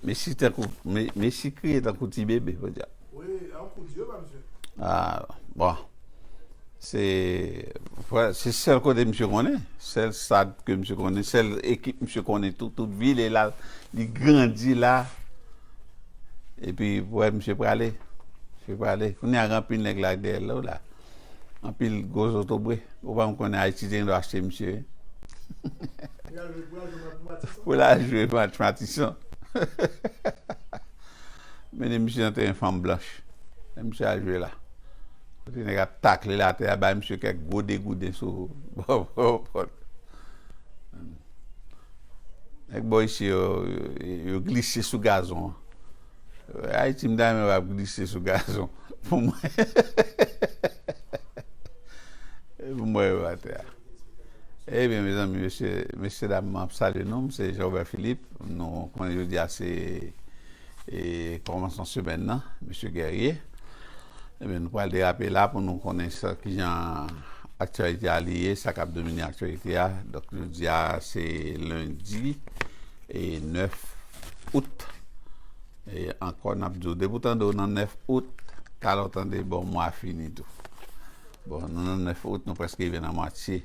Messi tankou, Messi kriye tankou ti bebe podyab. Wi, e on kout zye pa misye. Ah, bon. Se, se sèl kote misye konnen, sèl stad ke misye konnen, sèl ekip misye konnen tout, tout vi li la, li grandi la. E pi, wè misye prale, misye prale. Kounye a gen anpil nèg la dèyè l la. anpil gwo zotobre ou pa konnen ayiti te gendwa achte misye pou la jwe match matison mennen misye nan teren fanm blanch lè misye al jwe la kote nèg ap takle l atè a bay misye kèk gwo degouden sou bòpòt nèg bò isi yo yo glise sou gazon an Ayiti m ta renmen pa glise sou gazon pou m wè pou m wè yo atè a. Ebyen mezanmi mesye mesye dam map salye nou m se Jean-Robert Philippe nou konnen jodi a se e kòmansman semèn nan mesye Guerrier ebyen nou pral derape la pou nou konnen sa kijan aktyalite a li ye sa kap domine aktyalite a donk jodi a se lundi e 9. out e ankò n ap di w depi w tande w nan 9 out talè w tande bon mwa a fini tou bon nou nan 9 out nou prèske rive nan mwatye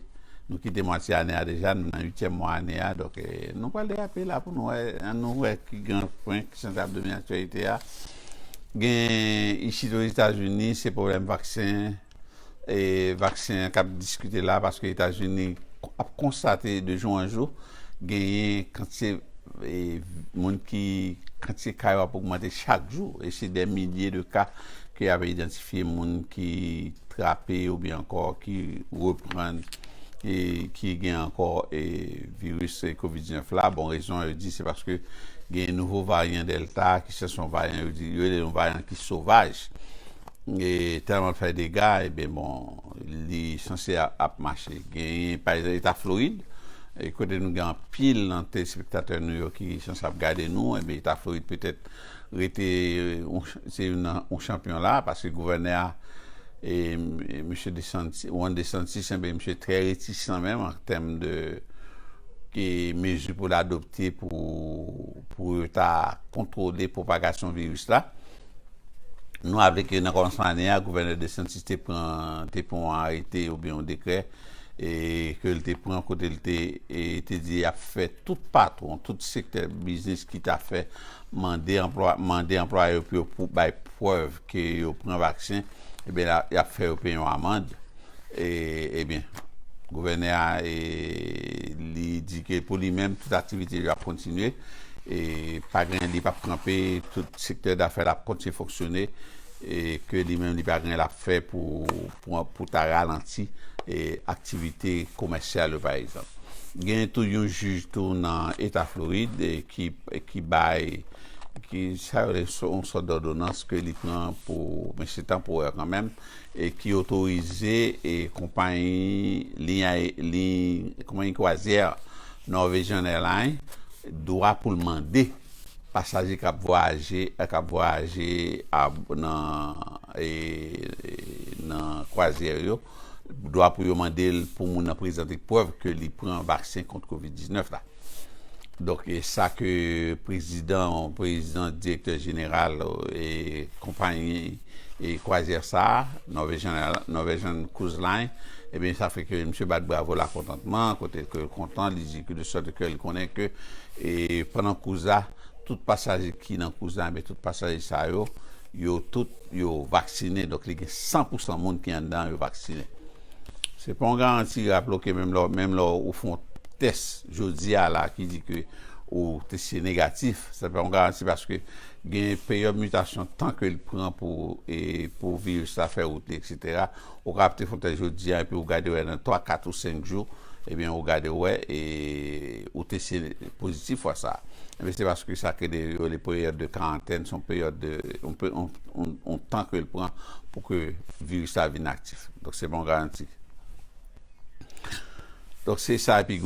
nou kite mwatye ane a deja nou nan uityèm mwa ane a donk nou pral derape la pou nou wè an nou wè ki gran pwen ki sanble ap domine aktyèlite a gen isit ozetazini se pwoblèm vaksen e vaksen an kap diskite la paske etazini ap konstate de jou an jou genyen kantite moun ki kantite ka yo ap ogmante chak jou e se dè milye de ka ke y ave idantifye moun ki trape ou byen ankò ki reprann e ki gen ankò e viris covid 19 la bon rezon yo di se paske genyen nouvo varyan delta ki se son varyan yo di yo rele yon varyan ki sovaj. e tèlman l fè dega ebyen bon li sanse ap mache genyen pa egzanp eta Florid kote nou gen anpil nan telespektatè nou yo ki sanse ap gade nou ebyen eta Florid petèt rete se youn nan yon chanpyon la paske gouvènè a mesye Desanti Ron Desanti sanble misye trè retisan menm an tèm de e mezi pou l adopte pou pou yo ta kontwole pwopagasyon viris la. Nou raple ke nan kòmansman ane a, Gouvènè DeSantis te pran te pran yon arete oubyen yon dekrè ke l te pran kote l te te di y ap fè tout patwon, tout sektè biznis ki ta fè mande anplwa mande anplwaye yo pou yo pou bay prèv ke yo pran vaksen, ebyen y ap fè yo peye yon amand. Ebyen, gouvènè a li di ke pou li menm tout aktivite yo ap kontinye, pa gen li pap kanpe, tout sektè dafè l ap kontinye fonksyone, e ke li menm li pa gen l ap fè pou ta ralanti aktivite komèsyal yo pa egzanp. Gen tou yon jij tou nan eta Florid ki bay sa yo rele yon sòt dòdonans ke li pran pou men se tanporè kanmenm. ki otorize konpayi liy kwazyè Norwegian Airlines dwa pou l mande pasaje k ap vwayaje nan kwazyè yo dwa pou yo mande l pou moun nan prezante prèv ke li pran vaksen kont covid 19 la. Donk e sa ke prezidan ou prezidan direktè jeneral e konpayi e kwazyè sa a, Norwegian Airlines, Norwegian Cruise Line, ebyen sa fè ke misye bat bravo la kontantman, kote ke l kontan, li di ke de sòt ke li konnen ke e pandan cruise la, tout pasaje ki nan cruise la, ebyen tout pasaje sa yo, yo tout yo vaksinen, donk li gen 100 pousan moun ki anndan yo vaksinen. Se pa yon garanti rap la ok menm lè menm lè ou fon tès jodi a la ki di ke ou teste negatif se pa yon garanti paske gen peryòd mitasyon tan ke li pran pou e pou viris la fè wout li eksetera ou ka ap te fon tès jodi a epi ou gade wè nan 3 4 ou 5 jou ebyen ou gade wè e ou teste pozitif fwa sa ebyen se paske sa ke de yo rele peryòd de karantèn son peryòd de yon tan ke li pran pou ke viris la vin ak. aktif. Donk se pa yon garanti. Donk se sa epi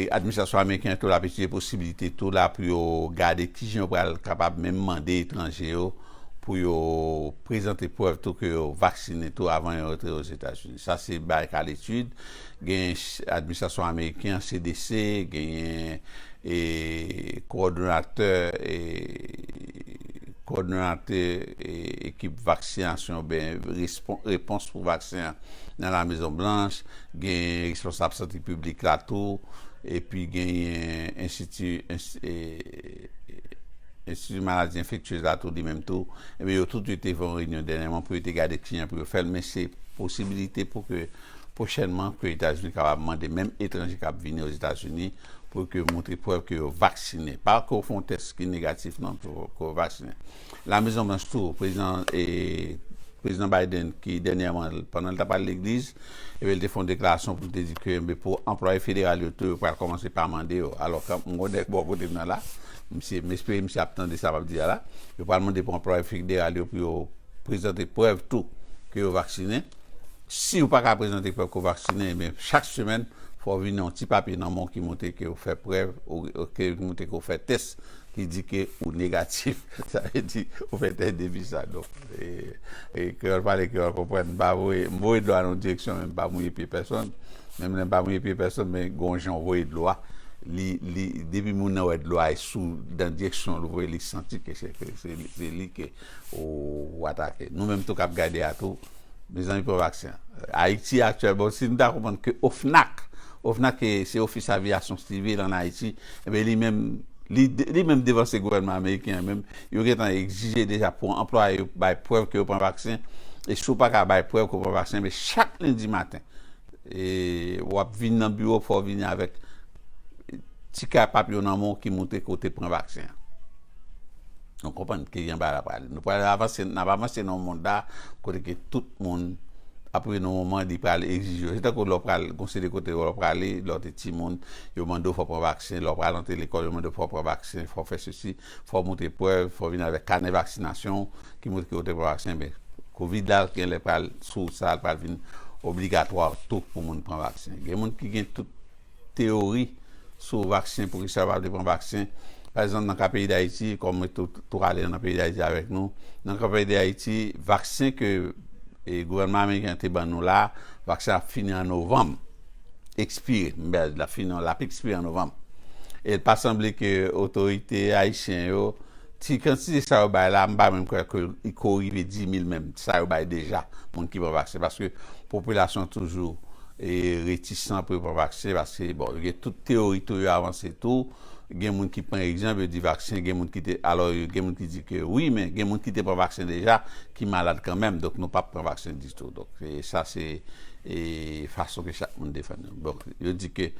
administrasyon ameriken tou l ap etidye posibilite tou la pou yo gade ki jan yo pral kapab menm mande etranje yo pou yo prezante prèv tou ke yo vaksinen tou avan yo rantre Ozetazini. Sa se bagay k a letid. Gen administrasyon ameriken an, CDC, genyen e kowòdonatè e kowòdonate e ekip vaksinasyon oubyen respon repons pou vaksen an nan La Mezon Blanch, genyen responsab sante piblik la tou, epi genyen enstiti e enstiti maladi enfektyez la tou li menm tou, ebyen yo tout yo te fè yon reyinyon dènyèman pou yo te gade kijan pou yo fè l, men se posibilite pou ke Pwochènman ke Etazini kapab mande menm etranje kap vini Ozetazini pou ke montre prèv ke yo vaksinen. Pa ke w fè yon tès ki negatif non ke w vaksinen. La Mezon Blanch tou, Prezidan Prezidan Biden ki dènyèman pandan l tap al legliz e byen l te fè yon deklarasyon pou l te di ke enben pou anplwaye federal yo tou yo pral kòmanse pa mande yo. Alò ke m gon nèg bò kote m nan la, misye m espere misye ap tande sa m ap di a la, yo pral mande pou anplwaye federal yo pou yo prezante prèv tou ke yo vaksinen. Siw paka prezante prèv ke w vaksinen, ebyen chak semèn fò w vini yon ti papye nan men w ki montre ke w fè prèv, ki montre ke w fè tès ki di ke ou negatif, sa vle di ou fè tès depistaj. Donk, kreyòl pale kreyòl konprann, m pa voye, m voye dlo a nan yon direksyon men m pa mouye pye pèsonn, menm lè m pa mouye pye pèsonn men gen yon jan w voye dlo a, li, li, depi moun nan wè dlo a e sou, nan direksyon l voye li santi ke se li ke ou atake. Nou menm tou kap gade a tou, Mezanmi pran vaksen an. Ayiti aktyèl bon si nou ta konprann ke OFNAC, OFNAC se ofis aviyasyon sivil an Ayiti enben li menm li menm devanse gouvènman ameriken an menm yo gentan egzije deja pou anplwaye yo bay prèv ke yo pran vaksen e si w pa ka bay prèv ke w pran vaksen men chak lendi maten e w ap vin nan biwo fò w vini avèk ti ka pap yo nan men w ki montre ke w te pran vaksen an. Nou konprann ki jan bagay la pral. Nou pral avanse, n ap avanse nan yon mond la kote ke tout moun ap rive nan yon moman li pral egzije w. Se tankou lè w pral gon seri de kote lè w prale, lè w te timoun, yo mande w fò w pran vaksen, lè w pral antre lekòl yo mande w fò w pran vaksen, fò w fè sesi, fò w montre prèv, fò w vini avèk kanè vaksinasyon w ki montre ke w te pran vaksen. Men, kovid la genlè pral sou sa, li pral vin obligatwa tou pou moun pran vaksen. Gen moun ki gen tout. teyori sou vaksen pou kisa yo pa vle pran vaksen pa egzanp nan ka peyi dayiti kòm mwen tou ale nan peyi dayiti avèk nou nan ka peyi dayiti vaksen ke gouvènman ameriken te ban nou la vaksen ap fini an novanm ekspire m bèl la fini an lap ekspire an novanm e pa sanble ke otorite ayisyen yo Ti kantite sa yo bay la, m pa menm kwè ke li ko rive 10000 menm, sa yo bay deja moun ki pran vaksen, paske popilasyon toujou retisan pou yo pran vaksen, paske bon yo gen tout teyori tou, yo avanse tou, gen moun ki pran egzanp, yo di vaksen gen moun ki te, alò gen moun ki di ke wi, men gen moun ki te pran vaksen deja ki malad kanmenm, donk nou pap pran vaksen ditou, donk sa se fason ke chak moun defann yo, donk yo di ke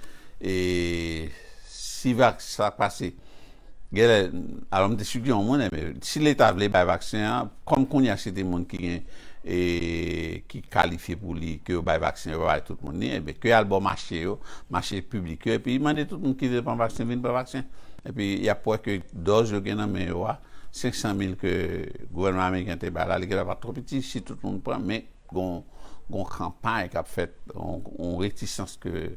si vak, sa k pase Genlè alò m te sugè yon moun enben si leta vle bay vaksen an kòm kounya se te moun ki gen ki kalifye pou li ke yo bay vaksen yo pa bay tout moun li enben ke yal bò mache yo mache piblik yo epi mande tout moun ki vle pran vaksen vin pran vaksen epi yap wè ke dòz yo gen nan men yo a 500 mil ke gouvènman ameriken te bay la li genlè pat twò piti si tout moun pran men. Gon yon kanpay kap fèt, yon retisans ke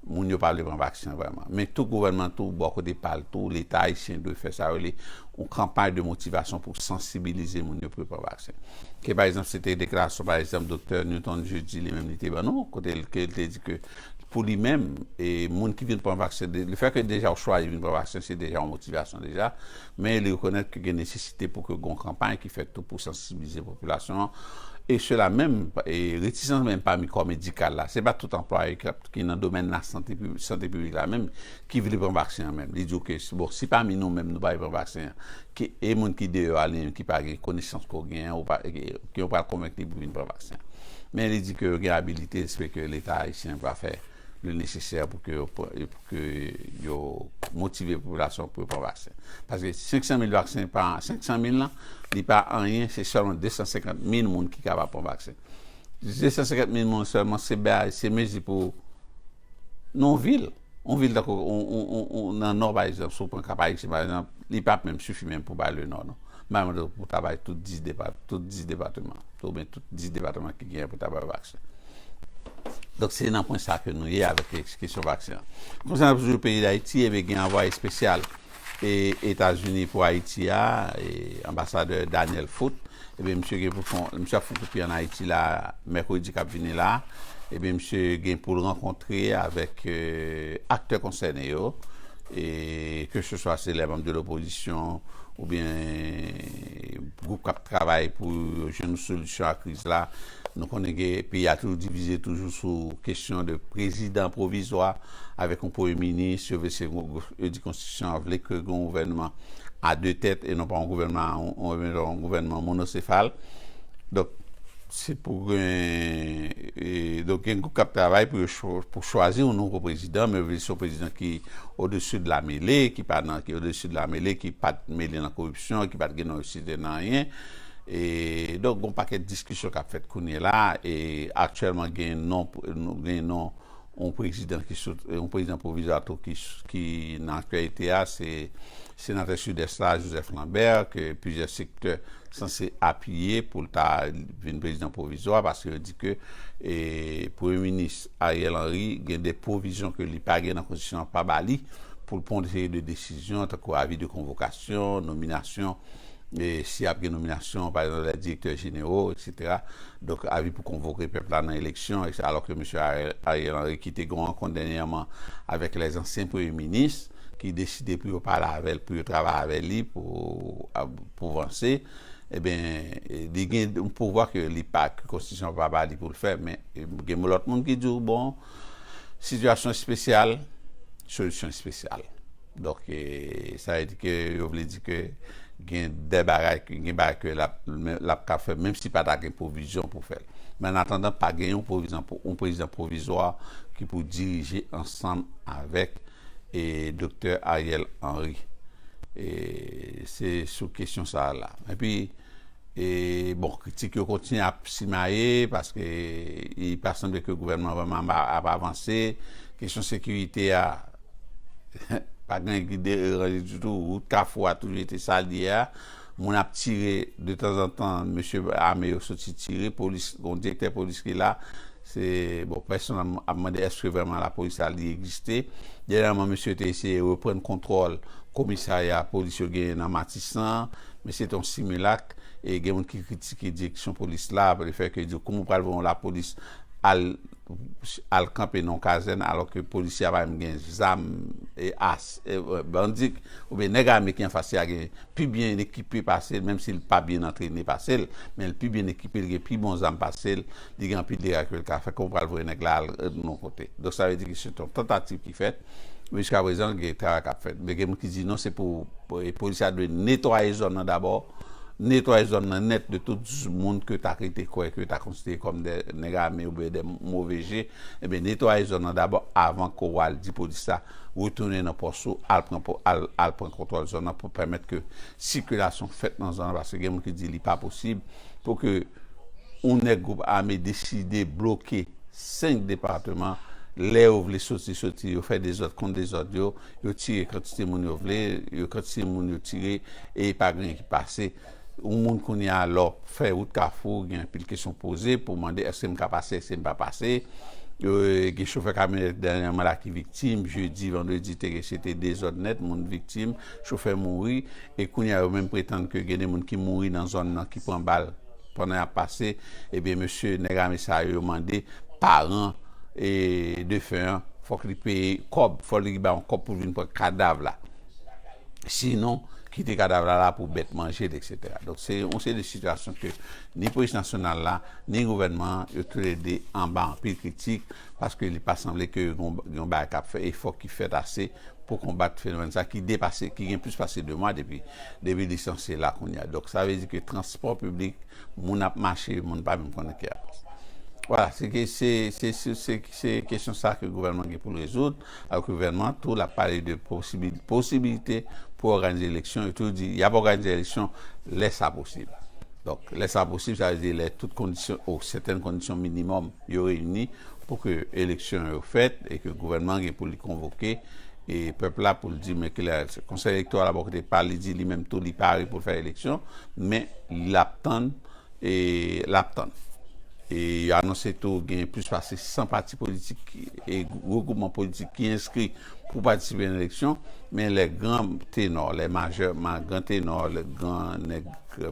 moun yo pa vle pran vaksen vrèman. Men tou gouvènman tou bò kote pa l tou, leta ayisyen dwe fè sa yo rele yon kanpay de motivasyon pou sansibilize moun yo pou yo pran vaksen. Ke pa egzanp se te deklarasyon pa egzanp doktè Newton Jeudi li menm li te ban nou, kote l ke l te di ke pou li menm e moun ki vin pran vaksen, le fè ke deja ou chwazi vin pran vaksen se deja yon motivasyon deja. Men li rekonèt ke gen nesesite pou ke gon kanpay ki fèt tou pou sansibilize popilasyon an e sela menm e retisans menm pami kò medikal la. Se pa tout anplwaye ki nan domèn la sante piblik sante piblik la menm ki vle pran vaksen an menm. Li di w ke si bon si pami nou menm nou pa vle pran vaksen an ki e moun ki deyò a li menm ki pa gen konesans ke w gen an ou pa e ke w pral konvenk li pou vin pran vaksen an. Men li di ke yo gen abilite se ke leta ayisyen pa fè. li nesesè pou ke yo motive popilasyon pou yo pran vaksen. Paske 500 mil vaksen pa, 500 mil lan, li pa anyen, se sèlman 250 mil moun ki kapab pran vaksen. 250 mil moun sèlman, se bay, se mezi pou yon vil. Yon vil tankou, nan nò pa egzanp, si w pran Kap Ayisyen pa egzanp, li pap menm sifi menm pou bay le nò non. Mwen ta bay tout 10 depateman. Ou byen tout 10 depatman ki genyen pou ta bay vaksen. Donk se nan pwen sa ke nou ye avèk kesyon vaksen an. Konsenan toujou peyi Dayiti, ebyen gen anvwaye espesyal e Etazini pou Ayiti a, e anbasadè Daniel Foot, ebyen misye gen pou fon, misye ap fon kou pi an Ayiti la a, mèkredi kap vini la a, ebyen misye gen pou l rankontre avèk aktè konsène yo, e ke se swa se lè manm de lopozisyon, oubyen. Gwoup k ap travay pou yo jwenn yon solisyon a kriz la. Nou konnen ke peyi a toujou divize toujou sou kesyon de prezidan pwovizwa avèk yon premye minis. Yo vle se yo di konstitisyon an vle ke gen yon gouvènman a de tèt e non pa yon gouvènman yon gouvènman monosefal. Donk, se pou gen donk gen gwoup k ap travay pou yo pou chwazi yon nouvo prezidan men yo vle se yon prezidan ki odeside lamele ki pa nan ki odeside lamele ki pa t mele nan koripsyon. konsepsyon ki pat gen non isite nan anyen e donk gon pakèt diskisyon kap fèt kounye la e aktyèlman gen non gen non yon prezidan ki sot yon prezidan pwovizwa tou ki nan aktyalite a se senatè sidès la Joseph Lambert ke plizyè sektè sanse apiye poul ta vin prezidan pwovizwa paske yo di ke e premye minis Ariel Henry gen de pwovizyon ke li pa gen nan konstitisyon an pa ba li poul pwan yon seri de desizyon tankou avi de konvokasyon. eleksyon, nominasyon, si ap gen nominasyon, pa egzanp lè direktè jenero, eksetera, donk avi pou konvoke pèp la nan eleksyon, ekse, alò ke Mesye Ariel Henry ki te gen yon rankont dènyèman avèk lè zansyen premye minis ki deside pou yo pale avè l, pou yo travay avè li pou vanse, eben, li gen yon pouvwa ke li pa, ke konstitisyon pa ba li pou l fè, men gen lòt moun ki di w, bon, sitiyasyon espesyal, solisyon espesyal. Donk sa vle di ke yo vle di ke gen de bagay ke gen bagay ke lap ka fè menm si pa ta gen pwovizyon pou fèl. Men an atandan pa gen yon pwovizyon pou yon prezidan pwovizwa ki pou dirije ansanm avèk e doktè Ariel Henry. E se sou kesyon sa la. E pi e bon kritik yo kontinye ap simaye paske li pa sanble ke gouvènman vreman ap avanse. Kesyon sekirite a. Pa gen ki deranje ditou, wout kafou a toujou rete sa l ye a. Moun ap tire de tanzantan, mesye ame yo soti tire, polis, gon direktè polis ki la, se, bon pèsonn ap mande èske vrèman lapolis la li egziste. Dènyèman mesye yo te eseye reprann kontwòl komisarya polis yo genyen nan Matisan an, men se te yon similak e gen moun ki kritike direksyon polis la, lefètke yo di yo kouman ou pral voye yon lapolis al. al kanpe nan yon kazèn alò ke polisye a pa menm gen zam e as e bandi oubyen nèg ame ki anfas li a gen pi byen ekipe pase l menm si l pa byen antrene pase l men l pi byen ekipe li gen pi bon zam pase l li gen anpil dega ke l ka fè kòman w pral voye nèg la al nan yon kote donk sa vle di ke se t yon tantativ ki fèt Jiska prezan gen kara kap fèt. Men gen moun ki di non se pou polis la dwe netwaye zòn nan dabò, netwaye zòn nan nèt de tout moun ke ta rete kwè ke ta konsidere kòm de nèg ame oubyen de move je, ebyen netwaye zòn nan dabò avan ke w al di polis la retounen nan pòs ou al pran al pran kontwòl zòn nan pou pèmèt ke sikilasyon fèt nan zòn nan paske gen moun ki di li pa posib pou ke yon nèg gwoup ame deside bloke 5 departeman lè yo vle soti soti yo fè dezòd kont dezòd yo yo tire kantite moun yo vle yo kantite moun yo tire e pa gen anyen ki pase yon moun kounya lè w fè wout kafou gen anpil kesyon poze pou mande èske m ka pase èske m pa pase gen chofè kamyonèt dènyèman la ki viktim jedi vandredi te gen se te dezòd nèt moun viktim chofè mouri e kounya yo menm pretann ke gen de moun ki mouri nan zòn nan ki pran bal. Pandan yap pase, ebyen mesye nèg ame sa yo, yo mande paran defen an fòk li peye kòb, fòk li bay yon kòb pou vin pran kadav la. Sinon, kite kadav la la pou bèt manje l, eksetera. Donk se yon seri de sitiyasyon ke ni polis nasyonal la, ni gouvènman an, yo tou le 2 anba anpil kritik, paske li pa sanble ke gen yon bagay kap fè, efò ki fèt ase pou konbat fenomèn sa ki depase, ki gen plis pase 2 mwa depi. Depi li sanse la kounye a. Donk sa vle di ke transpò piblik, moun ap mache, moun pa menm konnen ki a. Vwala, se ke se, se sou, se, se kesyon sa ke gouvènman gen pou l rezoud. Alò ke gouvènman tou l ap pale de posibi, posibilite pou òganize eleksyon. Yo toujou di y ap òganize eleksyon lè sa posib. Donk lè sa posib, sa vle di lè tout kondisyon, o sètèn kondisyon minimòm. yo reyini pou ke eleksyon yo fèt e ke gouvènman an gen pou li konvoke e pèp la pou l di men kilè konsèy elektoral la bò kote pa l li di li menm tou li pare pou l fè eleksyon men l ap tann e l ap tann e yo anonse tou gen plis pase 100 pati politik e regroupman politik ki enskri pou patisipe nan eleksyon men lè gran tenò lè majè gran tenò lè gran nèg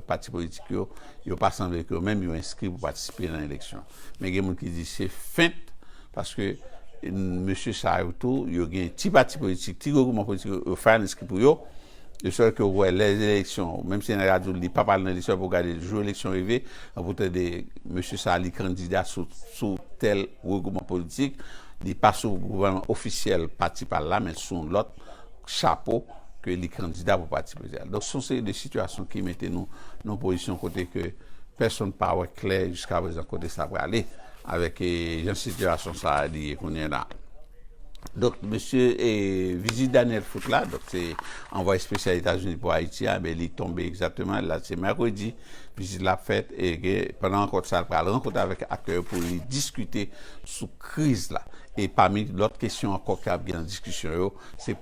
pati politik yo Yo pa sanble ke yo menm yo enskri pou patisipe nan eleksyon. Men gen moun ki di se fent paske mesye sa yo tou yo gen ti pati politik, ti regwoupman politik yo fè enskri pou yo, de sòt ke ou wè lè eleksyon, menm si nèg la di w li pap al nan eleksyon, epi ou gade jou eleksyon rive, epi ou tande mesye sa li kandida sou tèl regwoupman politik, li pa sou gouvènman ofisyèl pati pa l la men sou yon lòt. chapo ke li kandida pou pati prezidansyèl. Donk son seri de sitiyasyon ki mete nou nan pozisyon kote ke pèsonn pa wè klè jiska prezan kote sa prale avèk jan sitiyasyon sa a li ye kounye la. Donk mesye vizit Daniel Foot la, donk se anvwaye spesyal Etazini pou Ayiti a, li tonbe egzakteman, la se mèkredi, Vizit la ap fèt pandan rankont sa a, li pral rankontre avèk aktè yo pou li diskite sou kriz la. E pami lòt kesyon ankò ki ap gen nan diskisyon yo, se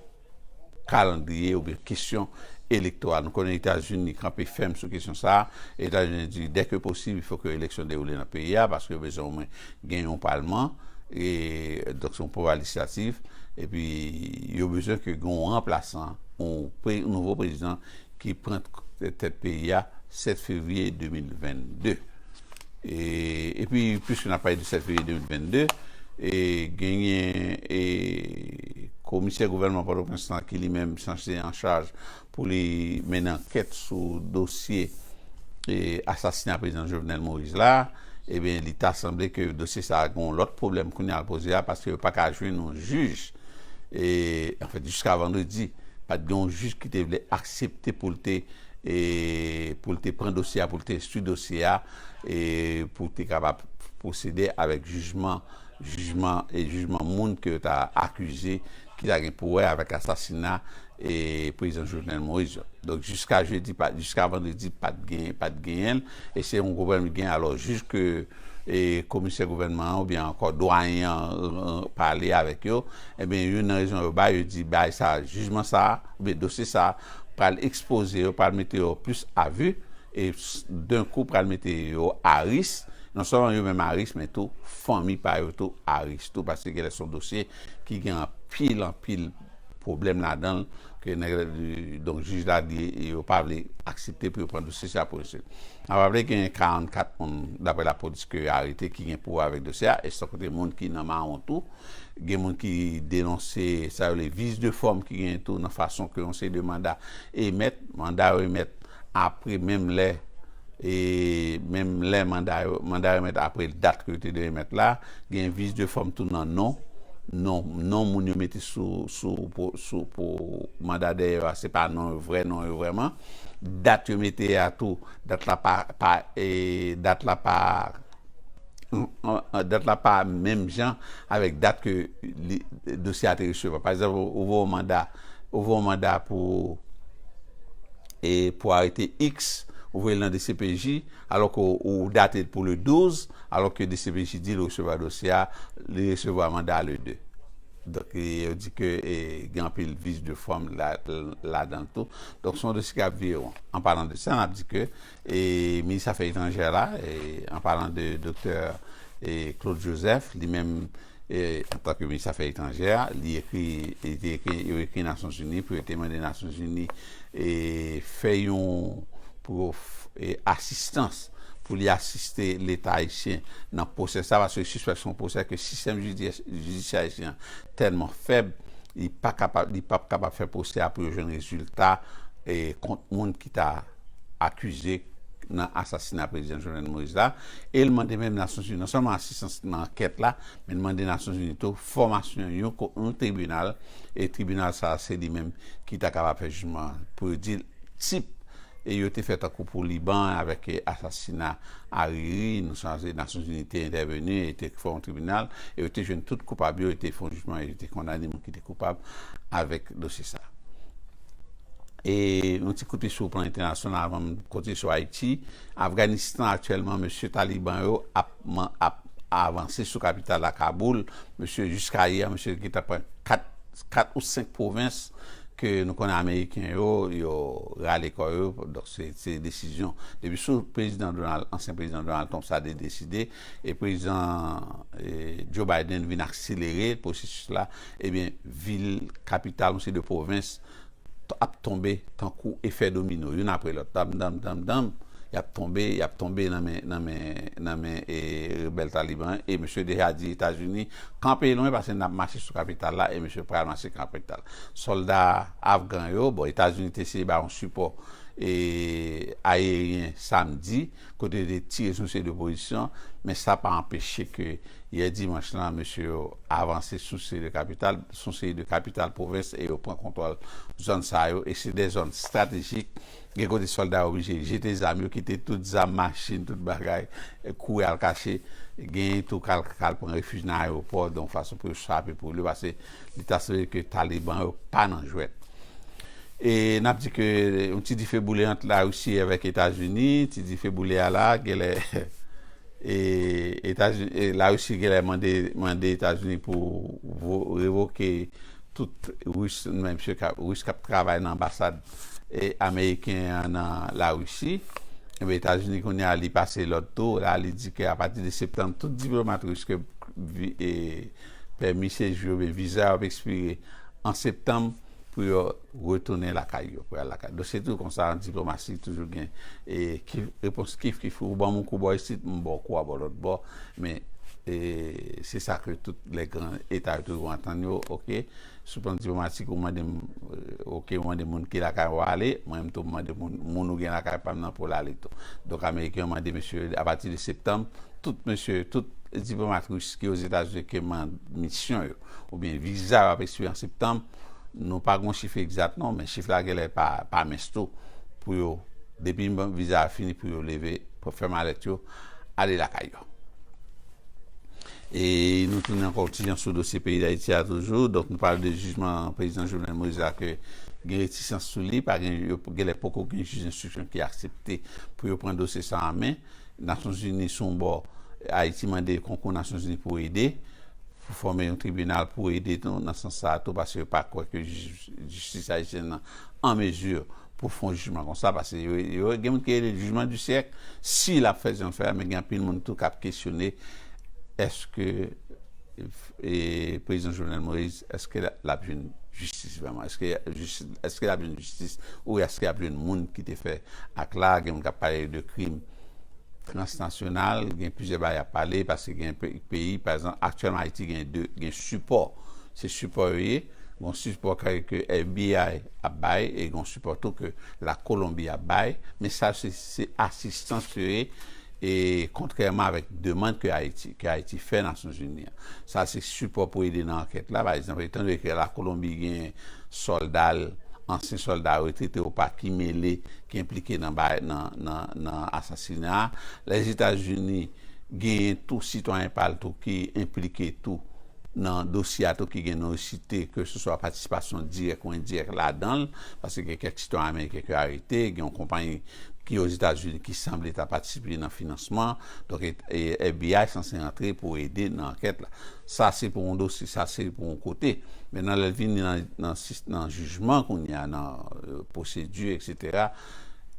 kalandriye oubyen kesyon elektoral. Nou konnen Etazini kanpe fèm sou kesyon sa a. Etazini di dè ke posib, fò ke eleksyon dewoule nan peyi a paske yo bezwen omwen gen yon palman, donk se yon pouvwa lejslatif, epi yo bezwen ke gen yon ranplasan, yon nouvo prezidan ki pran tèt peyi a 7 fevriye 2022 epi piske nap pale de 7 fevriye 2022 genyen komisè gouvènman pòtoprens lan ki li menm sanse an chaj pou li mennen ankèt sou dosye asasina prezidan Jovenel Moïse la ebyen li ta sanble ke dosye sa gen yon lòt pwoblèm kounye a poze a paske yo paka jwenn yon jij e anfèt jiska vandredi pat gen yon jij ki te vle aksepte pou l te e pou l te pran dosye a pou l te enstwi dosye a e pou l te kapab pwosede avèk jijman jijman e jijman moun ke yo ta akize ki ta gen pou wè avèk asasina e prezidan Jovenel Moïse yo donk jiska jedi pat jiska vandredi pat gen pat genyen l e se yon pwoblèm li genyen alò jij ke e komisè gouvènman an oubyen ankò dwayen an pale avèk yo, ebyen youn nan rezon yo bay, yo di bagay sa a, jijman sa a oubyen dosye sa a pral ekspoze yo, pral mete yo plis a vi e dan kou pral mete yo a ris, non sèlman yo menm a ris men tou fanmi pa yo tou a ris tou paske genlè se yon dosye ki gen anpil anpil. pwoblèm ladan l ke nèg la di donk jij la di yo pa vle aksepte pou yo pran dosye sa pou misye n ap raple genyen 44 moun daprè lapolis ke yo arete ki gen pou wè avèk dosye a e san konte moun ki nan mawon tou gen moun ki denonse sa yo rele vice de forme ki genyen tou nan fason ke yon seri de manda emèt manda yo emèt apre menm lè e menm lè manda yo manda remèt apre dat ke yo te dwe remèt la gen vis de fòm tou nan non non non moun yo mete sou sou pou sou pou manda dèyè yo a se pa non yo vrè non yo vrèman dat yo mete a tou dat la pa pa e dat la pa dat la pa menm jan avèk dat ke li dosye a te resevwa pa egzanp ou voye yon manda. ou voye yon manda pou e pou arete X ou voye l nan dcpj alò ke ou date l pou le 12 alò ke dcpj di l resevwa dosye a li resevwa manda le 2 donk yo di ke e gen anpil vis de fòm ladan l tou donk se yon dosye ki ap vire won an palan de sa n ap di ke e minis afè etranjè la e an palan de doktè e Claude Joseph li menm Antanke Minis Afè Etranjè, li ekri, li te ekri, yo ekri Nasyonzini pou yo te mande Nasyonzini fè yon, pou yo asistans, pou li asiste Leta ayisyen nan pwosè sa, paske yo sispèk se yon pwosè ke sistèm jidisyè ayisyen an tèlman fèb, li pa kapab, li pap kapab fè pwosè a pou yo jwenn rezilta kont moun ki ta. akize nan asasina Prezidan Jovenel Moïse la e l mande menm Nasyonzini non sèlman asistans nan ankèt la men l mande Nasyonzini tou fòmasyon yon tribinal e tribinal sa a se li menm ki ta kapab fè jijman an pou yo di l tip e yo te fè tankou pou Liban avèk asasina Ariri nou sonje Nasyonzini te entèveni e te fè yon tribinal e yo te jwenn tout koupab yo e te fè yon jijman e yo te kondane moun ki te koupab avèk dosye sa a. E yon ti kote sou plan entènasyonal avan m kontinye sou Ayiti, Afganistan aktyèlman mesye Taliban yo ap avanse sou kapital la Kaboul, mesye jiska yè mesye te gentan pran 4 ou 5 pwovens ke nou konnen ameriken yo yo rale kò yo, donk se desizyon depi sou prezidan Donald ansyen prezidan Donald Trump sa te deside e prezidan Joe Biden vin akselere pwosesis la ebyen vil kapital yon seri de pwovens ap tonbe tankou efè domino youn apre lòt dam dam dam dam yap tonbe yap tonbe nan men nan men nan men e rebèl taliban e misye deja di etazini kanpe lwen paske nap mache sou kapital la e misye pral mache kapital sòlda afgan yo bon etazini te eseye bay yon sipò e ayeryen samdi kote yo te tire sou seri de pozisyon, men sa pa anpeche ke yè dimanch lan mesye yo avanse sou seri de kapital, sou seri de kapital pwovens e yo pran kontwòl zòn sa yo e se de zòn estratejik, gen kote sòlda yo oblije jete zam yo, kite tout zam, machin, tout bagay, kouri al kache, genyen tou k al pran refij nan ayewopò donk fason pou yo chape pou yo pase. Li ta sanble ke Taliban yo pa nan jwèt. E n ap di ke yon ti dife boule ant Larisi avèk Etazini, ti dife boule a la, genlè Larisi genlè mande Etazini pou revoke tout Ris k ap travay nan anbasad ameriken an nan Larisi. Enben Etazini kounye a li pase lòd tou, la li di ke apati de septanm tout diplomat Ris ke pèmi sejou yo oubyen viza yo ap ekspire an septanm pou yo retounen lakay yo, pou yo al lakay. Donk se toujou konsa an diplomasi, toujou gen repons kif kif, ou ban m yon kou bò isit, m ba w kou a bò lòt bò, men se sa ke tout lè gran eta yo toujou antann yo, oke, sou plan diplomatik ou mande m, oke, ou mande moun ki lakay ou ale, mwen menm tou m mande moun, moun ou gen lakay pa m nan pou l ale tou. Donk ameriken yo mande mesye yo apati de septanm, Tout mesye, tout diplomat Ris ki Ozetazini ke man misyon yo oubyen viza yo ap espire an Septanm, nou pa gon chif egzat non men chif la genlè pa pa mens tou pou yo depi viza a fini pou yo leve fè malèt yo ale lakay yo. E nou tounen ankò yon ti jan sou dosye peyi Dayiti a toujou, donk nou pale de jijman prezidan Jovenel Moïse la ke gen retisans sou li, pa gen yo genlè poko gen jij enstriksyon ki aksepte pou yo pran dosye sa an men. Nasyonzini sou yon bò, Ayiti mande konkou Nasyonzini pou ede, pou fòme yon tribinal pou ede tou nan sans sa a tou paske yo pa kwè ke jistis ayisyèn nan an mezi pou fè yon jijman konsa paske yo gen moun ki rele l jijman di syèk si l ap fè jan l fè a men gen anpil moun tou k ap kesyone èske Prezidan Jovenel Moise eske lap jwenn jistis vreman eske lap jwenn jistis ou eske yap jwenn moun ki te fè ak la gen moun kap pale de krim transnasyonal gen plizyè bagay yap pale paske gen peyi pa egzanp aktyèlman ayiti gen 2 gen sipò se sipò yo ye gon sipò ke FBI ap bay e gon sipò tou ke la kolonbi ap bay men sa se asistans yo ye E kontrèman avèk demand ke Ayiti, ke Ayiti fè Nasyonzini an. Sa se sipò pou ede nan ankèt la. Pa egzanp, etan done ke la Kolonbi gen sòlda l, ansyen sòlda retrete ou pa ki mele, ki enplike nan bay, nan, nan, nan asasina a. Lèzetazini genyen tou sitwayen pa l tou ki enplike tou nan dosye a tou ki gen non yo site ke se swa patisipasyon dirèk ou endirèk ladan l. Paske gen kèk sitwayen ameriken ke arete, gen yon konpayi. ki Ozetazini ki sanble ta patisipe nan finansman, donk FBI sanse rantre pou ede nan ankèt la. Sa se pou yon dosye, sa se pou yon kote. Mennan lè vini nan jijman kounye a, nan pwosedi eksetera,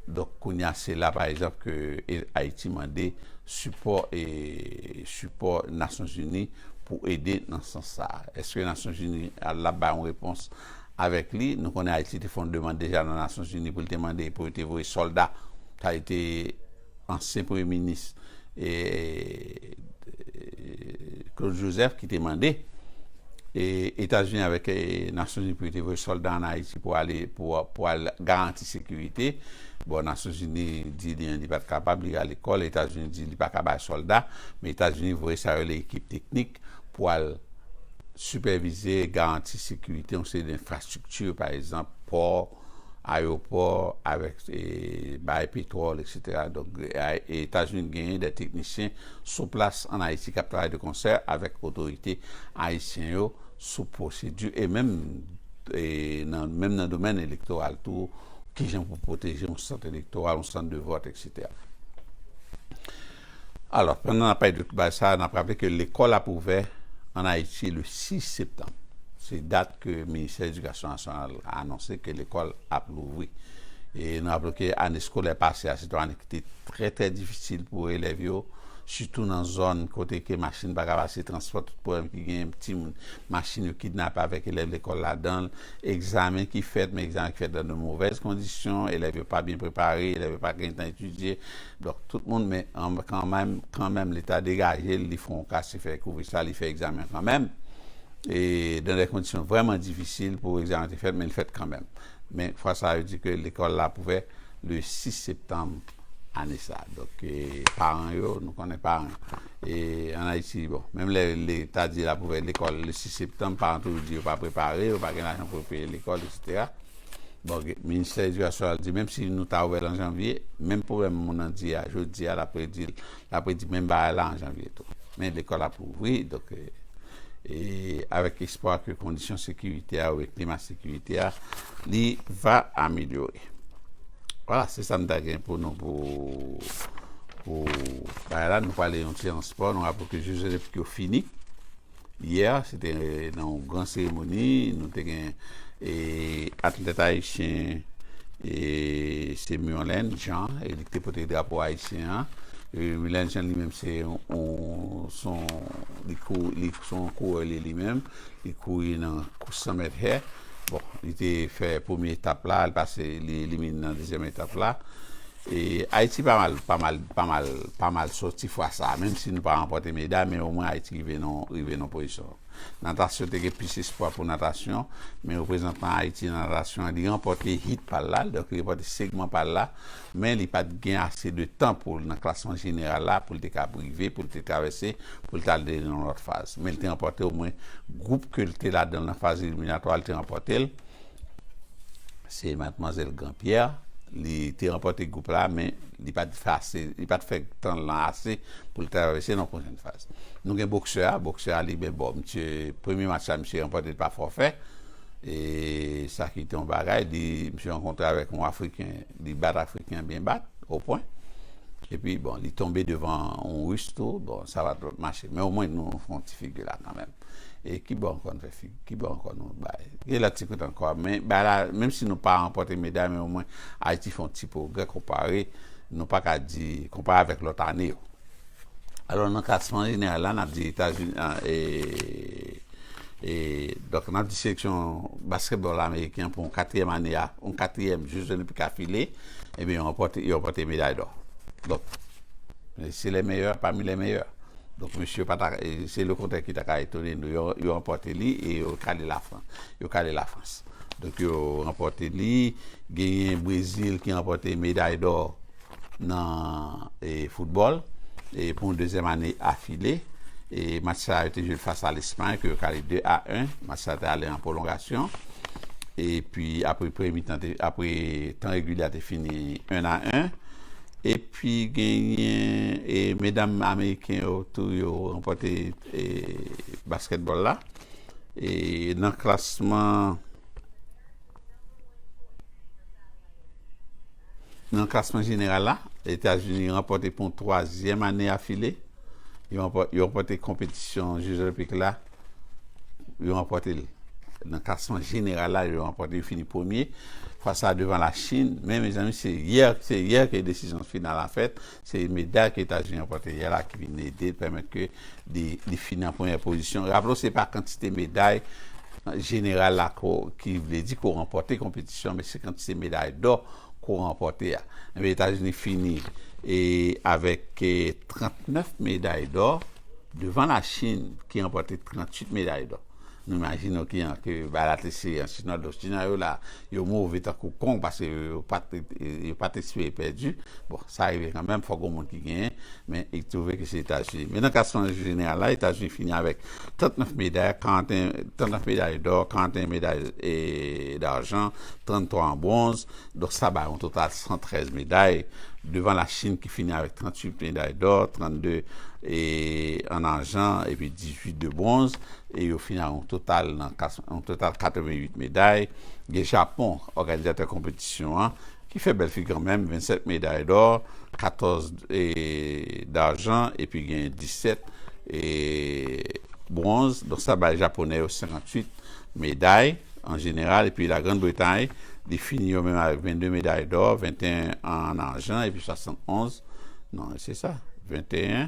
donk kounye a se la pa egzanp ke Ayiti mande sipò e sipò Nasyonzini pou ede nan sans sa. Eske Nasyonzini la bay yon repons? avèk li. Nou konnen Ayiti te fè yon demand deja nan Nasyonzini pou l te mande pou yo te voye sòlda. Sa li te ansyen premye minis Claude Joseph ki te mande Etazini avèk Nasyonzini pou yo te voye sòlda an Ayiti pou ale pou al garanti sekirite. Bon Nasyonzini di li li pa t kapab li rale kò l. Etazini di li pa ka bay sòlda men Etazini voye sa yo rele ekip teknik. pou al sipèvize e garanti sekirite yon seri de enfrastrikti, pa egzanp, pò, ayewopò, avèk baay petwòl, eksetera. Donk, Etazini genyen de teknisyen sou plas ann Ayiti k ap travay de konsè avèk otorite ayisyen yo sou pwosedi e menm nan domèn elektoral tou, kijan pou pwoteje yon sant elektoral, yon sant de vòt, eksetera. Alò, pandan n ap pale de tout bagay sa a, n ap raple ke lekòl ap ouvè ann Ayiti le 6 septanm. Se dat ke Ministè Edikasyon Nasyonal a anonse ke lekòl ap louvri. E nou raple w ke ane eskolè pase a se te yon ane ki te trè trè difisil pou elèv yo, sitou nan zòn kote ke machin pa ka pase, transpò, tout pwoblèm ki genyen, timoun, machin yo kidnape avèk elèv lekòl ladan l, egzamen ki fèt, men egzamen ki fèt nan de movèz kondisyon, elèv yo pa byen prepare, elèv yo pa gen tan etidye. Donk tout moun men kanmenm li ta degaje l li fè yon kase fè kouvri sa li fè egzamen an kanmenm e dan dè kondisyon vrèman difisil pou egzamen an te fèt men li fèt kanmenm men fwa sa yo di ke lekòl la ap ouvè le 6 septanm ane sa donk paran yo nou konnen paran an ayiti bon menm lè leta di l ap ouvè lekòl le 6 septanm paran toujou di yo pa prepare yo pa gen lajan pou yo peye lekòl eksetera. Bon, Ministè Edikasyon an di menm si nou ta ouvè l an janvye, menm pwoblèm moun nan di a, jodi a l ap redi l, l ap redi menm bagay la an janvye tou. Men lekòl ap ouvri, donk e avèk espwa ke kondisyon sekirite a oubyen klima sekirite a li va amelyore. Vwala, se sa m ta gen pou nou pou bagay la. Nou prale yon ti ran spò, nou raple ke Jeux Olympiques yo fini. Yè a, se te nan yon gran seremoni, nou te gen atlèt ayisyen se Murlen Jean, li ki te pote drapo ayisyen an. Murlen Jean li menm se yon kourè li menm, li kouri nan kous 100 mèt hè. Bon, li te fè premye etap la, li elimine nan dezyèm etap la. Ayiti pa mal pa mal pa mal pa mal soti fwa sa a menm si nou pa ranpòte meday men omwen Ayiti rive nan rive nan pozisyon natasyon te gen plis espwa pou natasyon men reprezantan Ayiti nan natasyon li ranpòte hit pa l la donk li ranpòte segman pa l la men li pat gen ase de tan pou l nan klasman jeneral la pou l te kab rive pou l te travèse pou l t al de nan yon lòt faz men l te ranpòte omwen gwoup ke l te ladan l nan faz eliminatwa l te ranpòte l. Se Matmwazèl Granpyè, li te ranpòte gwoup la men li pa t ase, li pa t fè tan l lan ase pou l travèse nan pwochen faz. Nou gen boksè a, boksè a li byen bo. Misye, premye match la misye ranpòte l pa fòfè e sa ki te yon bagay. Li, misye rankontre avèk yon afriken. Li bat Afriken byen bat, o pwen. Epi bon, li tonbe devan yon Ris tou, bon, sa pa t ap mache. Men omwen nou fè yon ti figi la kanmenm. E ki bò ankò nou fè figi? Ki bò ankò nou bay? Gen lòt ti kote ankò. Men bay la, menm si nou pa ranpòte meday, men omwen Ayiti fè yon ti pwogrè konpare, nou pa ka di, konpare avèk lòt ane yo. Alò nan klasman jeneral la nap di etazini donk nap di seleksyon basketball ameriken pou yon katriyèm ane a yon katriyèm jou zolenpik afile ebyen yo ranpòte meday dò donk se lè meyè pami lè meyè donk mesye yo pata se le kontrè ki ta ka etone nou yo ranpòte li e yo kale lafrans yo kale lafrans donk yo ranpòte li genyen brezil ki ranpòte meday dò nan foutbòl pou yon dezyèm ane afile. Match sa yo te jwe fas a Lespay ke yo kale 2 a 1. Match sa te ale an pwolongasyon. Epi apre premye mitan te, apre tan regilye a te fini 1 a 1. Epi genyen medam ameriken yo tou yo ranpòte baskètbòl la. Nan klasman. Nan klasman jeneral la, Etazini ranpòte pou twazyèm ane afile, yo ranpòte konpetisyon Jeux Olympiques la, yo ranpòte l. Nan klasman jeneral la, yo ranpòte, yo fini premye, fwa sa a devan la Chin, men mezanmi se yè, se yè ke desizyon final la fèt, Se meda ke Etazini ranpòte yè la ki vin ede pèmèt ke li fini an premyè pozisyon. Raple w se pa kantite meday jeneral la ki vle di ke w ranpòte konpetisyon men se kantite meday dò ke w ranpòte a. Enben Etazini fini avèk 39 meday dò devan Lachin ki ranpòte 38 meday dò. Nou imajine w kijan ke Balatese an, Sud Nord-Ouest, kijan yo la, yo move tankou kong paske yo pat yo pat espere pèdi. Bon, sa rive kanmenm, fòk gon moun ki genyen, men li twouve ke se Etazini. Men nan klasman jeneral la, Etazini fini avèk 39 meday, 41, 39 meday dò, 41 meday darjan, 33 an bronz, donk sa bay yon total 113 meday, devan Lachin ki fini avèk 38 meday dò, 32 an arjan epi 18 de bronz. e yo fini ak yon total nan yon total 88 meday. Gen Japon, òganizatè konpetisyon an, ki fè bèl figi kanmenm, 27 meday dò, 14 darjan epi gen 17 bwonz. Donk sa bay Japonè yo 58 meday an jeneral. Epi La Grann Bretay, li fini yo menm avèk 22 meday dò, 21 an arjan epi 71, non, se sa, 21.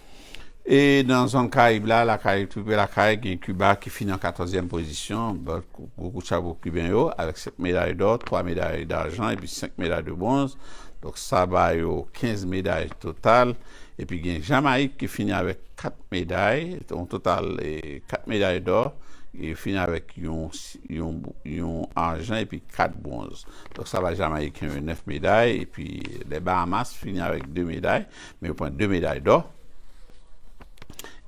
E nan zòn Karayib la, lakay, pi pre lakay, gen Kiba ki fini an katòzyèm pozisyon, gwo kout chapo pou Kiben yo, avèk 7 meday dò, 3 meday dajan epi 5 meday de bwonz, donk sa ba yo 15 meday total. Epi gen Jamayik ki fini avèk 4 meday, yon total 4 meday dò, yo fini avèk yon ajan epi 4 bwonz. Donk sa ba Jamayiken yo 9 meday, epi lè Bahamas fini avèk 2 meday. men yo pran 2 meday dò,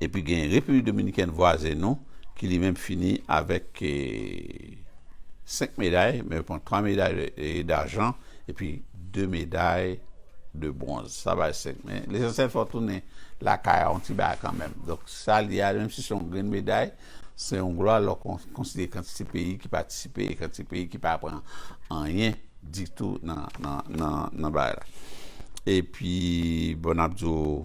epi gen Repiblik Dominikèn vwazen nou ki li menm fini avèk 5 meday, men yo pran 3 meday dajan epi 2 meday de bwonz, sa bay 5, men lesansyèl fè w tounen lakay a yon ti bagay kanmenm, donk sa li a menm si se yon grenn meday, se yon glwa lè w konsidere kantite peyi ki patisipe e kantite peyi ki pa pran anyen. ditou nan bagay la epi bon nap diw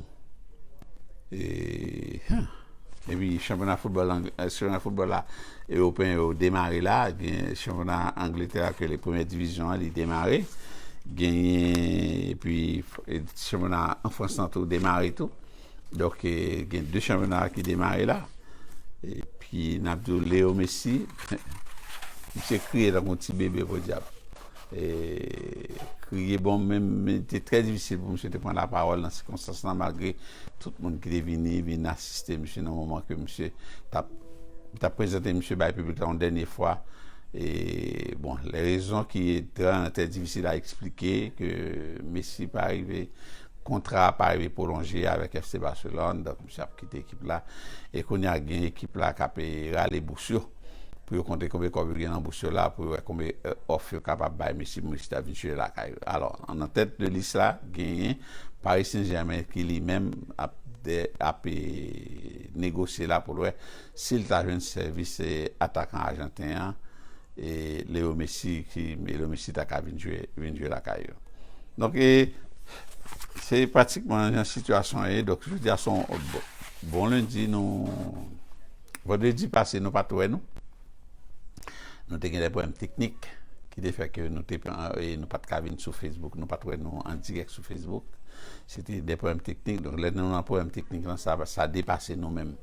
epi chanpyona foutbòl chanpyona foutbòl la ewopeyen yo demare la gen chanpyona angletè a kele premyè divizyon an li demare genyen epi chanpyona an frans lan tou demare tou. Donk gen 2 chanpyona ki demare la epi n ap di w Leo Messi misye kriye tankou yon ti bebe podyab e kriye bon menm li te trè difisil pou misye te pran lapawòl nan sikonstans lan malgre tout moun ki te vini vin asiste misye nan moman ke misye t ap yo t ap prezante misye bay piblik la yon dènye fwa e bon lè rezon ki trè difisil a eksplike ke Messi pa rive Kontra a pa rive pwolonje avèk FC Barcelone, donk misye ap kite ekip la. E kounye a gen ekip la k ape rale bous yo pou yo konte konbe kòb yo gen nan bous yo la pou yo wè konbe òf yo kapab bay mesye pou mesye ta vin jwe lakay yo. Alò, nan tèt de lis la genyen Paris Saint-Germain ki li menm ap ape negosye la pou l wè Si l ta jwenn sèvis atakan ajanten an Leo Messi, Leo Messi ta ka vin jwe lakay yo. Donk e se pratikman jan sitiyasyon an ye. Donk jodi a se yon bon lendi nou vandredi pase nou pa t wè nou. Nou te gen de pwoblèm teknik ki te fè ke nou te nou pa t ka vin sou Facebook, nou pa t wè nou an dirèk sou Facebook. Se te de pwoblèm teknik. Donk lè nou nan pwoblèm teknik lan sa depase nou menm.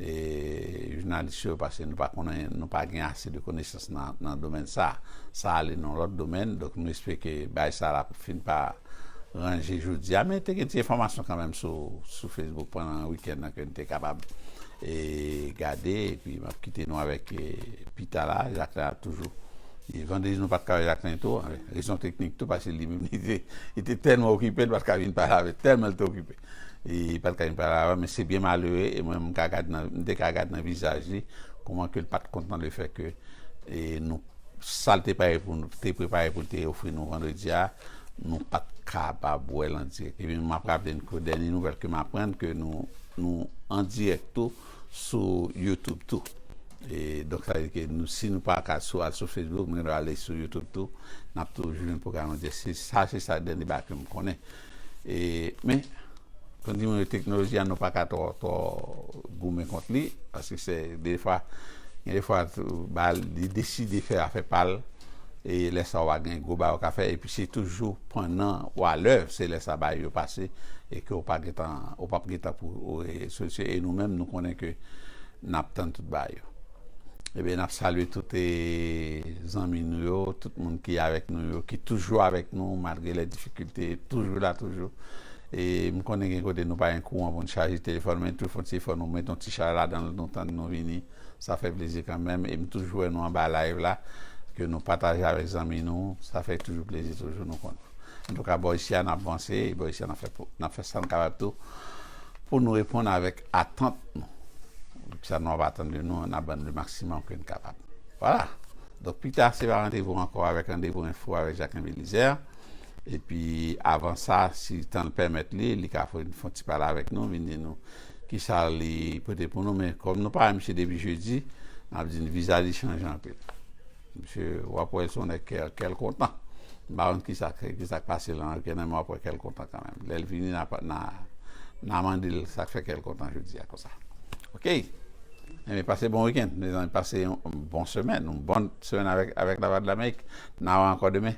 E jounalis yo paske nou pa konnen nou pa gen ase de konesans nan domèn sa sa ale nan lòt domèn donk nou espere ke bagay sa la pou fin pa ranje jodi a men te gen ti enfòmasyon kanmenm sou facebook pandan wikèn nan ke nou te kapab e gade epi map kite nou avèk pita la Jacquelin ap toujou e vandredi nou pat ka wè Jacquelin tou rezon teknik tou paske li menm li te tèlman okipe li pat ka vin pale avè tèlman li te okipe. E pa t ka gen pale avè m, men se byen malere, e mwen menm m te ka gad nan vizaj li kouman ke l pa t kontan le fè ke nou, sa l te prepare pou l te ofri nou vandredi a, nou pa t kapab wè l an dirèk. E pi m ap raple n ke dènye nouvèl ke m aprann ke nou an dirèk tou sou YouTube tou. E donk sa vle di ke si nou pa ka al sou Facebook, nou gen dwa ale sou YouTube tou, n ap toujou jwenn pwogram an dirèk. Sa se sa dènye bagay ke m konnen. E men, kon di mwen yo teknoloji a nou pa ka twò twò goumen kont li, paske se de fwa, gen de fwa tou ba li deside fè afè pa l, e lè sa w a gen gwo bagay w ka fè, epi se toujou pandan w a lèv, se lè sa bagay yo pase, e ke w pa gen tan, ou p ap gen tan pou w e solisyon, e nou menm nou konnen ke n ap tann tout bagay yo. Ebyen nap salye tout e zanmi nou yo, tout moun ki avèk nou yo, ki toujou avèk nou malgre lè difikilte, toujou la toujou. E m konnen gen kote nou pa gen kouran pou n chaje telefòn men tou fon ti efò nou met yon ti chaj ladan l nou tann nou vini sa fè plezi kanmenm e m toujou wè nou anba live la ke nou pataje avèk zanmi nou sa fè toujou plezi toujou nou konn. Antouka bò isi a nap vanse e bò isi a nap fè sa n kapab tou pou nou reponn avèk Atant nou. Donk sa nou ap atann de nou an na bann le maximum ke n kapab. Vwala. Donk pi ta se va randevou ankò avèk Randevou Enfo avèk Jacquin Belizaire. E pi avan sa si tan l pèmèt li, li ka fè fon ti pale avèk nou, vin di nou ki sa li pote pou nou. Men kòm nou pa wè misye depi jedi, n ap di n viza li chanje anpil. Misye wap wè son nèg kè kèl kontan m pa konn kisa kisak pase lan anken nan men wap wè kèl kontan kanmenm lèl vini na mandel sak fè kèl kontan jodia konsa ok enben pase bon weekend mezanmi pase yon bon semèn yon bòn semèn avèk lavwadlamerik na wè ankò demen.